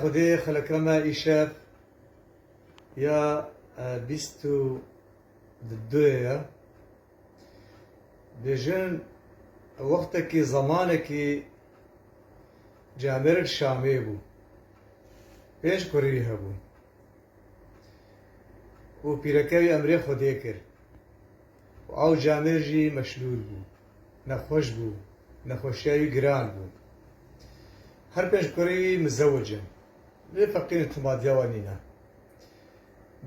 Xwedê xeleka me îşev ya bîst û duyê ye. Bêjin wextekî zemanekî ji Amerîk Şamê bû. Pênc kurî hebûn û pîreke wî emrê Xwedê kir û ew camê jî meşlûl bû. Nexweş bû. Nexweşiya wî giran bû. Her pênc kurê wî mizewuc in. Lê feqîr timadiya wan nîne.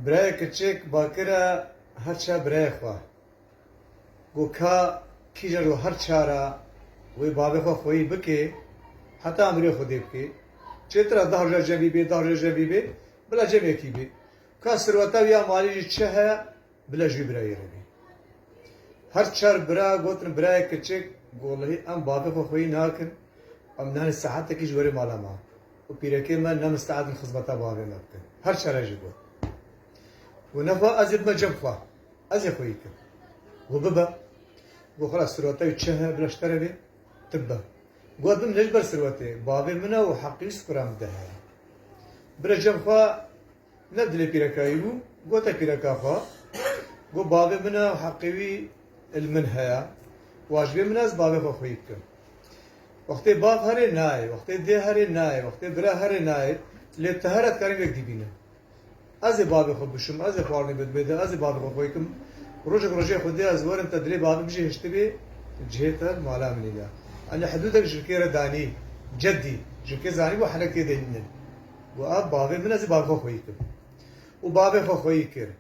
Birayê kiçik bakire her çar birayê xwe. Ku ka kîjan ji her çar a wê bavê xwe xweyî bike, heta amirê xwe dê bike. Çêtir a deh roja cem vî bê, deh roja cem vî bê, bila cem yekî bê. Ka sirweta wî ya malî jî çi heye, Bila jû birayê re bî. Her çar bira gotin birayê kiçik golehî em bavê xwe xweyî nakin, em nihanê saetekî ji werê mala me û pîrekê me ne misteed in xizmeta bavê me bikin. Her çar e jî got. Got nexwe ez ê bime cem xwe. Ez ê xweyî kim. Got bibe. Got xwela sirweta wî çi heye bila ji te re bê tu bibe. Got ez bim ne ji ber sirwetê bavê min e û heqî wî sikuran bide heye. Bila cem xwe. Neb dilê pîrekayî bû, gote pîreka xwe, Got bavê min e, heqê wî li min heye, wacibê min e ez bavê xwe xwî bikim. Wextê bav herê nayê, wextê dê herê nayê, wextê bire herê nayê, lê tu here dikarî wek dîbîne. Ez ê bavê xwe bişim, ez ê xwarinê bidimê te, ez ê bavê xwe xwî bikim. Rojek rojê Xwedê ez werim te dilê bavê bijî hiştibê cihê te li mala min î de. Anî hidûdek jirkê re danî, cedî, jirkê zanîbû henekê de hîn in. Got a bavê min ez ê bavê xwe xweyî kim. Û bavê xwe xweyî kir.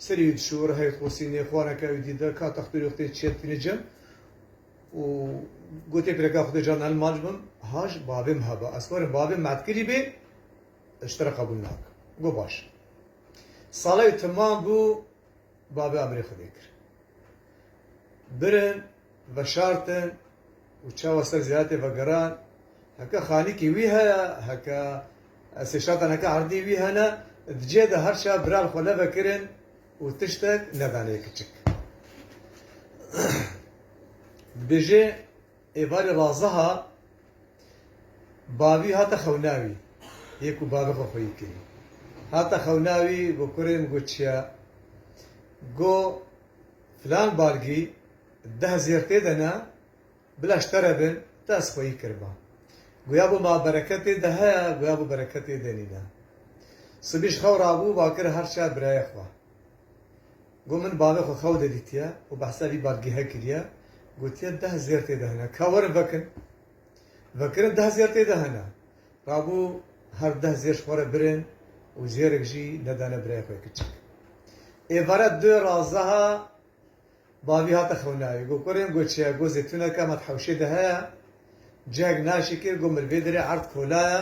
Serî wî dişûr, hey xosînê, xwaneke wî dît, ka textûrê xwe tê çêptînê cem û gotê pirêka xwe tê can el mac bim, haj bavê min hebe. Ez xwarim bavê min etkilî bê, ez ji te re qebûl nakim. Got baş. Sala wî timam bû. Bavê Amirê Xwedê kir. Birin, veşartin û çawa ser zîratê vegeran. Heke xanîkê wî heye, heke sêşatan heke erdî wî hene, di cihê de her çawa bira li xwe nevekirin û tiştek nedanê kiçik. Dibêje. Êvarê Raziha bavî hate xewna wî yê ku bavê xwe xweyî kirî. Hate xewna wî got kurên got çiya? Got filan balgî deh zêr tê de ne bila ji te re bin te ez xweyî kirima. Got ya bo ma bereket tê de heye got ya bo bereket tê de nîne. Sibî ji xew rabû va kir her çiya birayê xwe. Got min bavê xwe xew de dîtiye û behsa vî badgêhe kiriye, gotiye deh zêr tê de hene, ka werin vekin. Vekirin deh zêr tê de hene. Rabû her deh zêr ji xwe re birin û zêrek jî nedane birayê xwe kiçik. Êvare du raziha bavî hate xewnayê, got kurên got çiye, got zêtûneke me di hewşê de heye, cihek naşikir, got min li vê derê erd kola ye.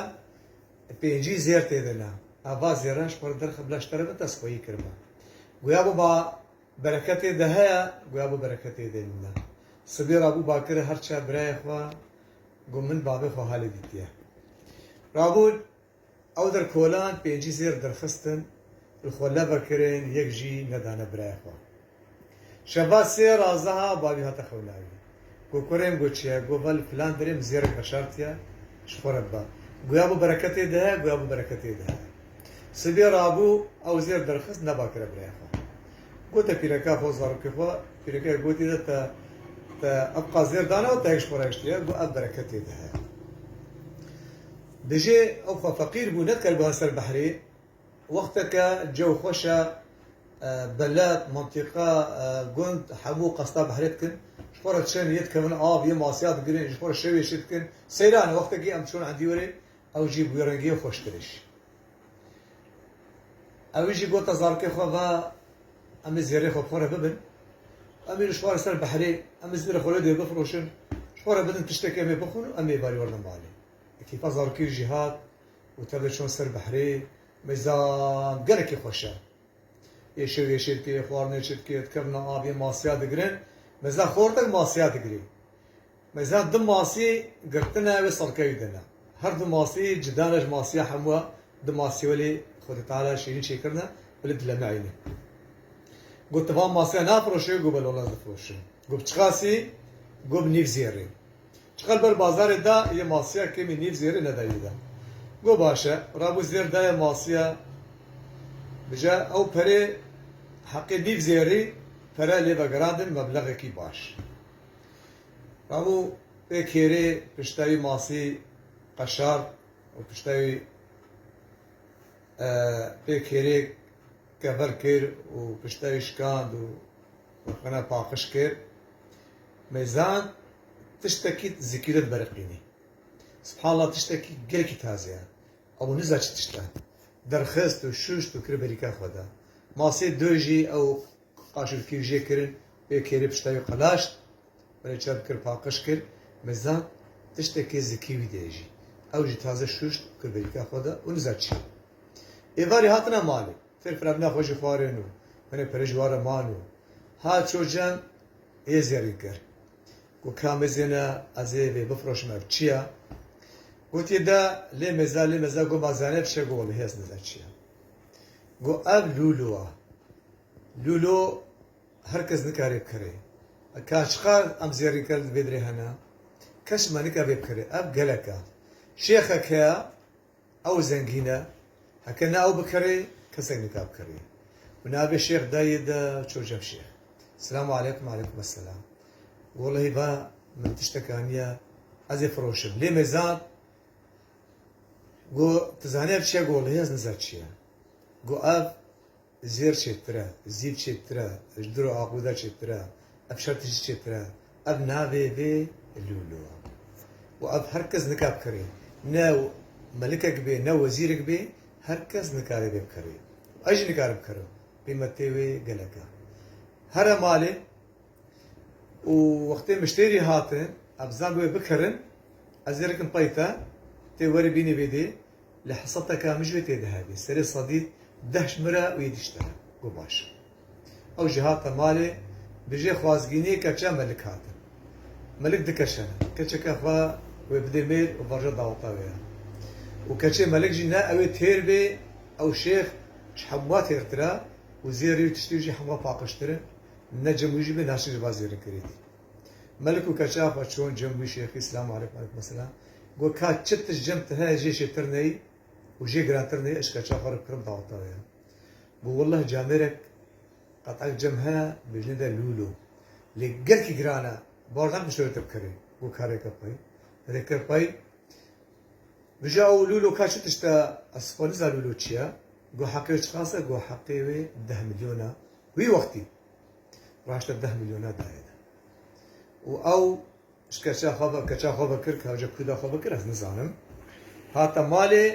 Pêncî zêr tê de ne. Eva zêren ji pere derxe bila ji te re bitersxweyî kirime. Goya biba bereketê de heye, goya bi bereketê de nîne. Sibê rabû bakire her çiya birayê xwe got min bavê xwe halê dîtiye. Rabûn ew der kolan pêncî zêr derxistin li xwe leve kirin yek jî nedane birayê xwe. Şeva sê raziha bavî hate xewlawî. Go kurên go çiye, go vel filan derê min zêrek veşartiye ji xwe re biba. Goya bo bereketê dihe, goya bo bereketê dihe. Sibê rabû ew zêr derxist neba kire biraya xwe. Gote pîreka xwe zarokê xwe, pîrekeyê gotî de te te ev qas zêr dane û te yek ji xwe re hiştiye, go ev bereketê dihe. Dijê ew xwe feqîr bû, nedikare guha ser behrê. Wexteke cew xweş e, beled, mintîqa, gund hemû qesta behrê dikin. Ji xwe re çend yê dikevin av, yê masiya digirin, ji xwe re şewê şit dikin. Seyran e, wextekî em çûn endî werê, ew jî bi wê rengî ye xweştir îş. Ewî jî gote zarokê xwe ve em ê zêrê xwe bi xwe re bibin. Em îro ji xwe re ser behrê, em ê zêrê xwe lê dê bifiroşin. Ji xwe re bidin tiştekê em ê bixwin û em ê berî werdin malê. Kêfa zarokê jî hat. Û tevê çûn ser behrê mêza gelekî xweş e. Yê şew yê şêrkê, xwarinê çirkê, dikevina avê masîya digirin. Mêza xortek masîya digirê. Mêza du masî girtine wê salkewî de ne. Her du masî cida ne ji masîya hemû e. Du masî welê Xwedê Teala şîrîn çêkirine welê dilemeîne. Got tu van masîya nafiroşê, got belo lez difiroşim. Got bi çiqasî? Got bi nîv zêrê. Çiqas ber bazarê da yê masiya kemî nîv zêrê nedayî da. Go baş e, rabû zêr dayê masiya bije ew perê heqê nîv zêrî pere lê vegirandin meblexekî baş. Rabû pê kêrê piştayî masî qeşart û piştayî pê kêrê kever kir û piştayî şikand û Min e paqij kir. Me zand tiştekî zikî re dibiriqînî. Sibhallah tiştekî gelekî tazê ye. Ew niza çi tişt e. Derxist û şûşt û kir berîka xwe de. Masê doy jî ew qaşûlkî jê kirin wê kêrê pişta wî qelaşt. Min ê çerm kir paqij kir. Me zand tiştekî zikî wî de ye jî. Ew jî taze şûşt û kir berîka xwe de û niza çi ye. Êvarê hatine malê. Fêr firemina xwe ji xwarên û hinê perêj wan re man û hat çû cem ê zerrî kir. Got ka mêzêne ez ê vê bifroşim ev çi ye? Gotiye de lê mêze lê mêze got ma Zeynep şê got wellehî ez nizan çi ye. Got ev lûlo ye. Lûlo her kes nikare bikire. Ka çiqar em zerrî kirin di vê birê hene. Kes çima nikare vê bikire. Ev gelek e. Şêxek heye. Ew zengîn e, heke ne ew bikerê kesek nika bikerê. Min avê şêx dayê de ço cem şêx. Selamu aleykum aleykum eselam. Wolahi va min tiştek aniye ez ê firoşim. Lê me zad got tu zanî ev çi ye? Got wolahi ez nizar çi ye. Got ev Zêr çêtir e, zîd çêtir e, ji dir û axûde çêtir e, ev şertî jî çêtir e, ev navê vê lûlo e. Û ev her kes nika bikirê. Ne melikek bê, ne wezîrek bê, her kes nikare vê bikirê. Û ez jî nikarim bikirim. Qîmetê wê gelek e. Here malê û wextê miştêrî hatin, ev zam bi wê bikirin, ez ê rikim pey te, tê werî bînî vê dê, Li hesateke min ji wê tê dihevî. Serê Sadît deh ji min re wî dişte. Got baş e. Ew jî hate malê. Bi jê xwazgîniyê keça Melik hatin. Melik di keşe ne. Keçeke xwe wê bidê mêr û vaje daweta wê ya. Û keçê Melik jî ne ew ê têr bê, ew şêx ji hemûa têrtir e û zêrî û tiştî wî jî hemûa paqijtir in. Ne cem wî jî bê naşîn ji van zêrî kirî dî. Melik û Keçe Apa çûn cem wî şêxî Selam aleykum aleykum eselam got ka çi tişt cem ti heye jê şêtir neyî û jê girantir neyî ez ji keça xwe re bikirim daweta wê ya. Got welleh camêrek qetek cem heye bêjine de lûlo lê gelkî giran e bar nakim ji te wê te bikerê. Got ka rêke pey rêke pey Bija ew lûlo ka çi tişt e ez xwe nizan lûlo çi ye. Got heqê wê çiqas e got heqê wê deh milyon e wî wextî. Raşte deh milyona dayê din. Û ew ji keça xwe ve keça xwe vekir, kewce kûda xwe vekir ez nizanim. Hate malê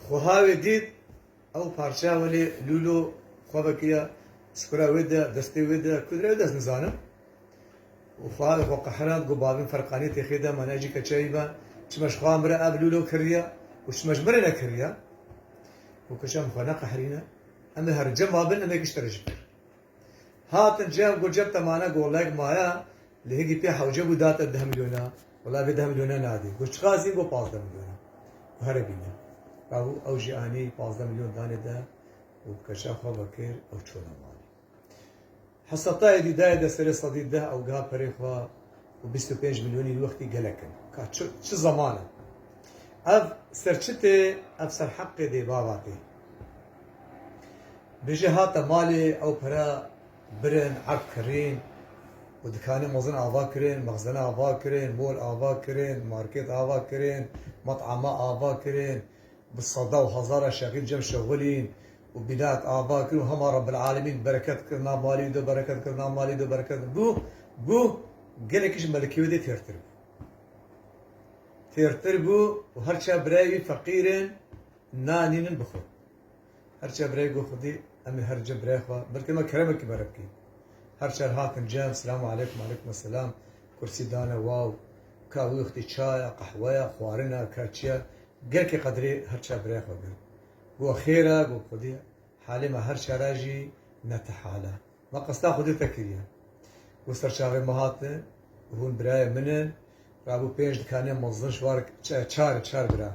xweha wê dît ew parçeya welê lûlo xwe vekiriya skura wê de, destê wê de, kûdra wê de ez nizanim. Û xweha wê xwe qehirand got bavên ferqanî têxê de me ne jî keçeyî me çima ji xweha min re ev lûlo kiriye û çima ji min re nekiriye. Got keça min xwe neqehirîne. Em ê her cem a bin em ê kişt re ji pir. Hatin cem ku cem te mane gollek maye li hingî pê hewce bû da te deh milyona wela vê deh milyona nadê got çiqas dîn got pazdeh milyona û here bîne gabû ew jî anî pazdeh milyon danê de û bi keça xwe vekir ew çûne malê Hesatayê dî dayê de serê sedî deh ew giha perê xwe û bîst û pênc milyonî li wextî gelek in ka çi çi zeman e ev ser çi tê ev ser heqê dê bava tê Bêje hate malê ew pere birin, erk kirîn û dikanê mezin ava kirîn, mexzene ava kirîn, mol ava kirîn, markêt ava kirîn, met'ama ava kirîn, bi seda û hezara şexîn cem şexulîn û bînayek ava kirîn û hema Rebbel'alemîn bereket kirina malê do, bereket kirina malê do, bereket kirina malê do. Bû bû gelekî ji melikê wê dê têrtir bû. Têrtir bû û her çar birayê wî feqîr in. Nanî min bixwe. Her çe birey go xwedî em ê her cem birey xwe belkî me keremekî bere bikîn. Her çar hatin cem selamu aleykum aleykum eselam kursî dane waw ka wî xwedî çaya, qehweya, xwarina ka çiya gelkî qedirê her çar birey xwe girt. Go xêra go xwedî halê me her çara jî ne ti hala. Me qesta xwedê te kiriye. Ku serçavê me hate û hûn birayên min in, rabû pênc dikanê mezin ji war çar e, çar bira,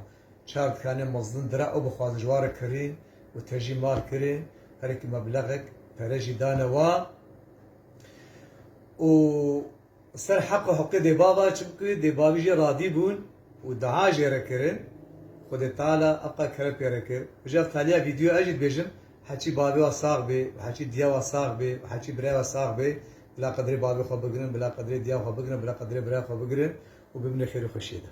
çar dikanê mezin dira û bixwazin ji war kirîn û tejî mal kirîn herikî meblexek pere jî dane wan û Li ser heqa hiqê dê bava çimkû dê bavî jê radî bûn û dua jê re kirin. Xwedê Teala heqa kere pê re kir. Ji ev qeliya vîdyoyê ez jî dibêjim, heçî bavê we sax bê û heçî diya we sax bê û heçî birayê we sax bê, bila qedrê bavê xwe bigirin, bila qedrê diya xwe bigirin, bila qedrê birayê xwe bigirin û bimîne xêr û xweşiyê de.